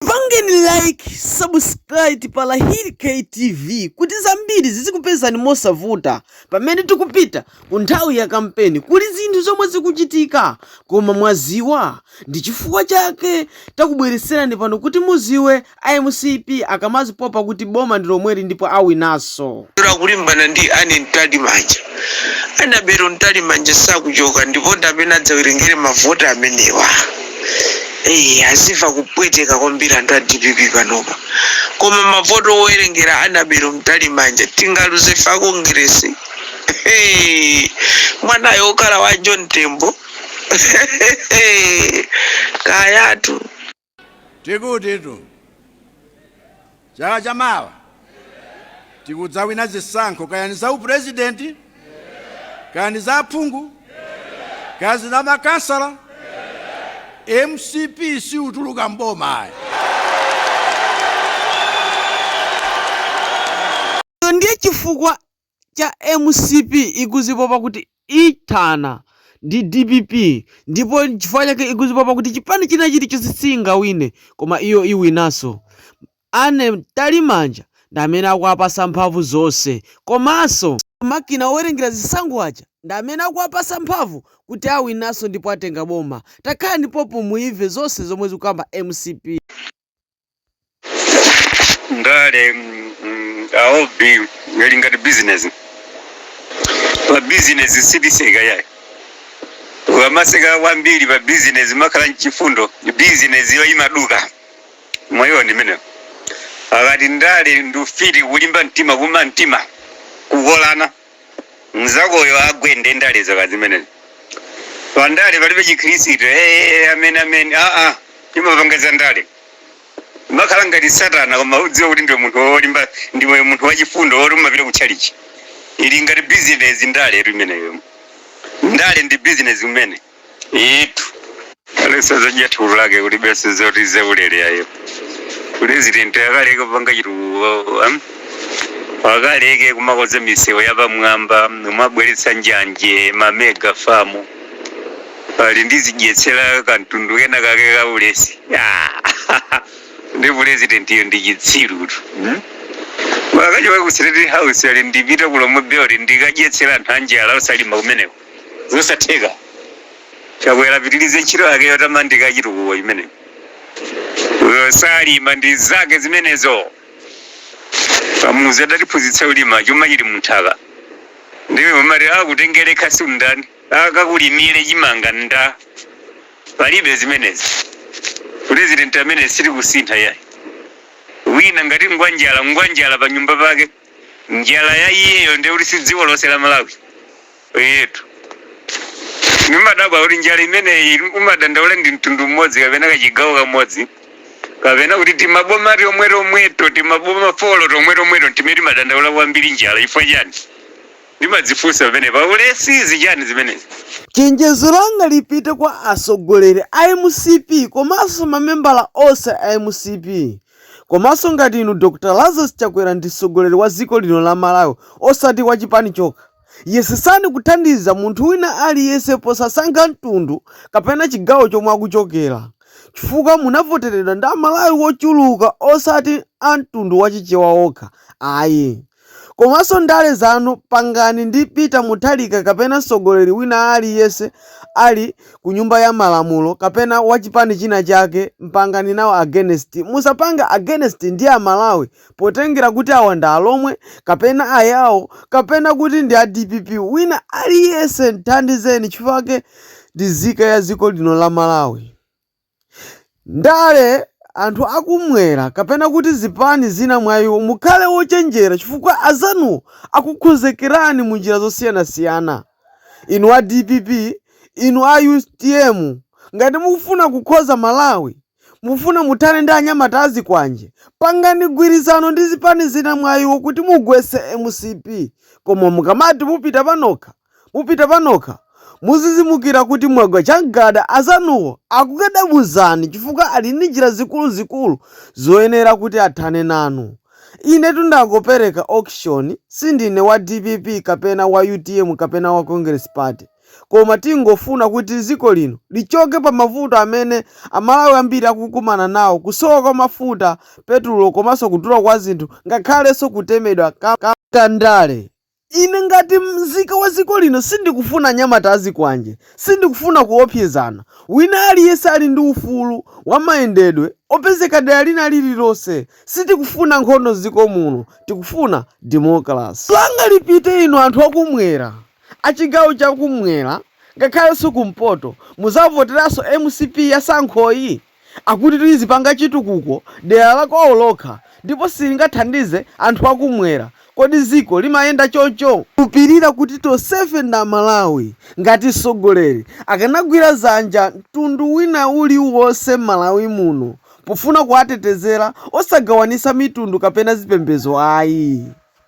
Pangeni like, subscribe pa Hit KTV kuti zambiri zizikupezani mosavuta pamene tikupita ku nthawi ya kampeni. Kuli zinthu zomwe zikuchitika koma mwaziwa ndi chifukwa chake takubweretserani pano kuti muziwe a mcp akamazipopa kuti boma ndi lomweli ndipo awinaso. Lero akulimbana ndi Anne Mtalimanja. Anabelo Mtalimanja sakuchoka ndipo ndi amene adzawerengere mavoti amenewa. Eee aziva kupweteka kwambiri anthu a dpp panopa. Koma mavoti owerengera Anabelo Mtalimanja tingaluze ife a Kongeresi? Hee! Mwanayo wokhala wa John Tembo? Kayatu. Tikutitu chaka cha mawa tikudzawina zisankho kayani za upurezidenti kayani za aphungu kaya ndi za makansala mcp siituluka m'boma ayi Ndiye chifukwa cha mcp ikuzipopa kuti ithana ndi dpp ndipo chifukwa chake ikuzipopa kuti chipani china chilichonse siingawine koma iyo iwinanso. Anne Mtalimanja ndi amene akuwapasa mphamvu zonse komaso makina owerengera zisankho aja ndi amene akuwapasa mphamvu kuti awinanso ndipo atenga boma. Takhalani pompo muimve zose zomwe zikukamba mcp. ndale mm, mm, ili ngati bizinesi pa bizinesi sitiseka iyayi ukamaseka kwambiri pa bizinesi umakhala wachifundo bizinesiyo imaduka mwaiwona imeneyo akati ndale ndi ufiti kulimba mtima kuuma mtima kukolana mzakoyo agwe nde ndale zake zimenezo pa ndale palibe chikhristu ee amene amene aa amapanga za ndale amakhala ngati satana koma udziwa kuti ndiwe munthu wolimba ndiwe munthu wachifundo woti umapita ku tchalitchi ili ngati bizinesi ndaletu imeneyo ndale ndi bizinesi umene Iyitu aliyense azadya thukuta lake kulibe zoti zaulele ayi. President akaleke kupanga chitukuko am? Akaleke kumakonza misewu yapamwamba kumabweretsa njanje ma mega farm ati ndizidyetsera kamtundu kena kake ka ulesi. Ah, ndi presidentiyo ndi chitsirutu. Hmm? Akachoke ku State House ati ndipita ku Lomwe Belt ndikadyetsera anthu anjala osalima kumeneko. Zosatheka. Chakwera apitilize ntchito yake yotamandika ya chitukuko chimenecho. Uyo salima ndi zake zimenezo. Kamuzu adatiphunzitsa kulima chuma chili munthaka. Ndiye umati akutengere khasu ndani? Akakulimire chimanga nda. Palibe zimenezi. President amene sitikusintha ayi. Wina ngati ngwanjala ngwanjala pa nyumba pake. njala ya iyeyo ndiye kuti si dziko lonse la malawi inetu ndimadabwa kuti njala imeneyi umadandaula ndi mtundu mmodzi kapena kachigawo kamodzi kapena kuti timaboma tomwe tomweto timaboma folo tomwe tomweto timene timadandaula kwambiri njala chifukwa chani ndimadzifunsa amenewa ulesi si chani zimenezi Chenjezo langa lipite kwa atsogoleri a mcp komanso mamembala onse a mcp Komanso ngati inu Dr Lazarus Chakwera ndi mtsogoleri wa dziko lino la Malawi osati wa chipani chokha, yesetsani kuthandiza munthu wina aliyense posasankha mtundu kapena chigawo chomwe akuchokera chifukwa munavoteredwa ndi a Malawi ochuluka osati a mtundu wa Chichewa okha ayi. Komanso ndale zanu pangani ndi peter mutharika kapena msogoleri wina aliyese ali Ku nyumba ya malamulo kapena wachipani china chake pangani nawo against musapange against ndi amalawi potengera kuti awa ndi alomwe kapena ayao kapena kuti ndi a dpp wina aliyese muthandizeni chifukwa ndi nzika ya ziko lino la malawi. ndale, anthu akumwera kapena kuti zipani zina mwa iwo, mukhale ochenjera chifukwa azanuwo akukhonzekerani mu njira zosiyanasiyana. Inu a dpp, inu a utm, ngati mukufuna kukonza Malawi, mukufuna muthane ndi anyamata a zikwanje, pangani gwirizano ndi zipani zina mwa iwo kuti mugwetse mcp. Koma mukamati mupita panokha. Mupite panokha. Mudzidzimukira kuti mwagwa chagada, azanuwo akukhadabuzani chifukwa ali ndi njira zikuluzikulu zoyenera kuti athane nanu. Inetu ndangopereka option, sindine wa dpp kapena wa utm kapena wa Congress Party, koma tingofuna kuti ziko lino lichoke pa mavuto amene a Malawi ambiri akukumana nawo kusowa kwa mafuta, petulo komanso kudula kwa zinthu ngakhalenso kutemedwa kwa ndale. Ine ngati mzika wa dziko lino sindikufuna anyamata azikwanje, sindikufuna kuopsezana. Wina aliyense ali ndi ufulu wa mayendedwe opezeka dera lina lililonse. Sitikufuna nkhondo m'dziko muno, tikufuna democracy. Langa lipite inu anthu akumwera, achigawo chakumwera ngakhalenso kumpoto, muzavoteranso mcp ya sankhoyi? Akuti izipanga chitukuko dera la kwawo lokha ndipo silingathandize anthu a kumwera. Kodi dziko limayenda choncho? Kupirira kuti tonsefe ndi aMalawi. Ngati mtsogoleri akanagwira dzanja mtundu wina uli wonse m'Malawi muno pofuna kuwatetezera osagawanitsa mitundu kapena zipembedzo ayi.